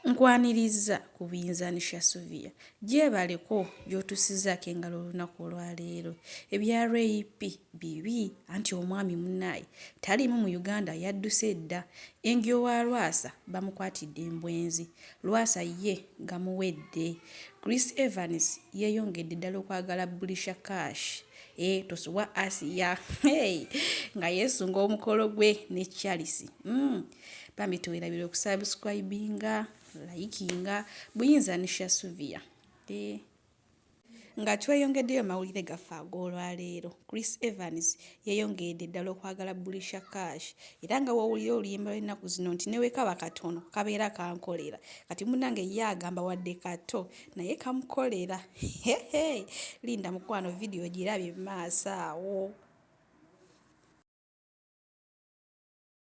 Nkwanirizza ku Binzani Shasuvia gyebaleko gy'otusizaako engalo olunaku olwaleero. Ebya Ray Pee bibi anti omwami munaye taliimu mu Uganda yadduse dda. Engyo wa Lwasa bamukwatidde embwenzi. Lwasa ye gamuwedde. Chris Evans yeyongedde ddala okwagala Bulisha Cash eeh tosubwa Asiya hey nga yesunga omukolo gwe ne Charles uhmm. bambi tewerabira okusubscribinga layikinga buyinza nisha suvia eh. nga tweyongeddeyo mawulire gaffe ag'olwaleero chris evans yeyongedde ddala okwagala bulisha cash era nga wowulira oluyimba lwennaku zino nti newekaba katono kabeera kankolera kati munange ye agamba wadde kato naye kamukolera hehe linda mukwano vidiyo girabye maaso awo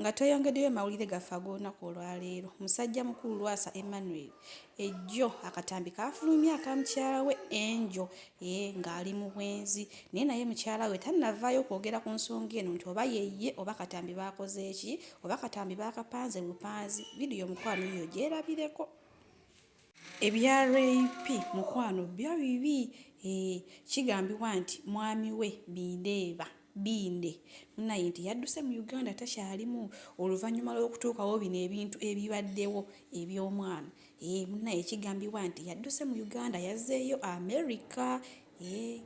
Nga tweyongeddeyo mawulire gaffe ag'olunaku olwaleero, musajja mukulu Lwasa Emmanuel ejjo akatambi kaafulumye aka mukyala we Angel ee eh, ng'ali mu bwenzi naye naye mukyala we tannavaayo kwogera ku nsonga eno nti oba yeye oba katambi baakoze ki oba katambi baakapanze bupanzi vidiyo mukwano yiyo gyerabireko. Ebya Ray Phee mukwano byo bibi eeh kigambibwa nti mwami we Bindeeba Binde munaye nti yadduse mu Uganda takyalimu oluvanyuma lwokutuukawo bino ebintu ebibaddewo ebyomwana eeh munaye kigambibwa nti yadduse mu Uganda yazzeeyo America eeh.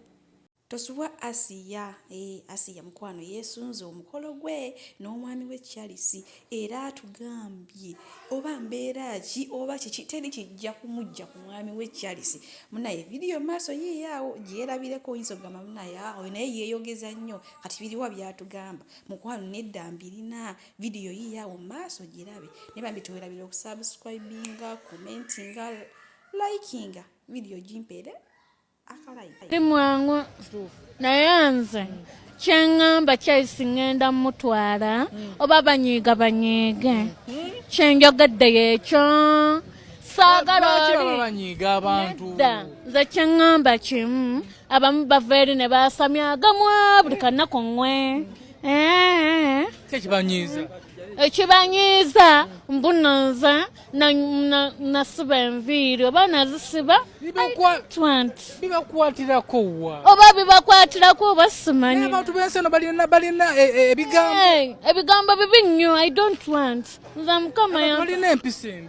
Tosubwa Asiya eeh Asiya mukwano yesunze omukolo gwe n'omwami we Charles era atugambye oba mbeera ki oba kiki teri kijja kumujja ku mwami we Charles munaye video maaso yiiyo awo gyerabireko oyinza okugamba munaye ah, oyo naye yeeyogeza nnyo kati biriwa byatugamba mukwano nedda mbirina video yiiyo awo maaso girabe naye bambi tewerabira okusubscribinga commentinga likinga video gimpeere ndi mwangu naye nze kyeŋŋamba kyesi ŋŋenda mmutwala oba banyiiga banyiige kyenjogedde yekyo saagala olibanyiiga abantu nedda nze kyeŋŋamba kimu abamu bava eri ne baasamya agamwa buli kannaku ŋwe eh. kyekibanyiiza ekibanyiiza mbunoza nasiba enviiri oba nazisiba bibakwatirako wa oba bibakwatirako oba simanyi abantu bensi eno balina balina e, e, ebigambo ebigambo bibi nnyo i don't want nza mukama yalina empisa embi